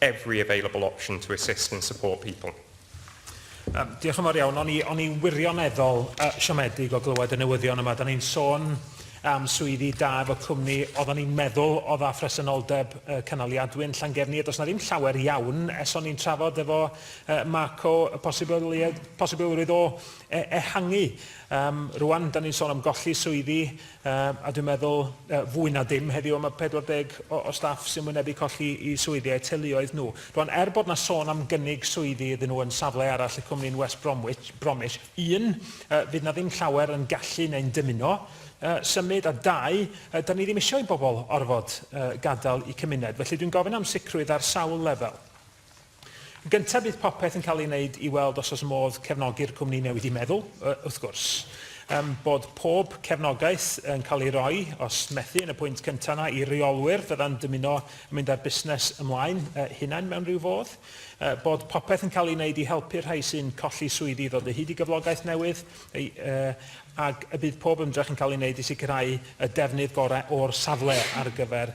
every available option to assist and support people. Um, diolch yn fawr iawn. O'n i, on i wirioneddol uh, siomedig o glywed y newyddion yma. Da ni'n sôn am swyddi da efo cwmni oedden ni'n meddwl o dda phresenoldeb uh, cynaliadwy yn Llangefni. Does na ddim llawer iawn es o'n i'n trafod efo uh, Marco y posibilrwydd o e ehangu. Um, rwan, da ni'n sôn am golli swyddi Yym, a dwi'n meddwl, yy, fwy na dim heddiw y mae 40 o o staff sy'n wynebu colli i swyddi a'u teuluoedd nhw. Rwan, er bod 'na sôn am gynnig swyddi iddyn nhw yn safle arall y cwmni'n West Bromwich, Bromich, un, yy, fydd 'na ddim llawer yn gallu neu'n dymuno, yy, symud, a dau, yy, 'dan ni ddim isio i bobl orfod, yy, gadael 'u cymuned. Felly, dwi'n gofyn am sicrwydd ar sawl lefel. Yn gyntaf bydd popeth yn cael ei wneud i weld os oes modd cefnogi'r cwmni newydd i meddwl, wrth gwrs, um, bod pob cefnogaeth yn cael ei roi, os methu yn y pwynt cyntaf yna, i reolwyr fydda'n dymuno yn mynd â'r busnes ymlaen uh, hunain mewn rhyw fodd, uh, bod popeth yn cael ei wneud i helpu'r rhai sy'n colli swyddi i ddod o hyd i gyflogaeth newydd, uh, ac y bydd pob ymdrech yn cael ei wneud i sicrhau y defnydd gorau o'r safle ar gyfer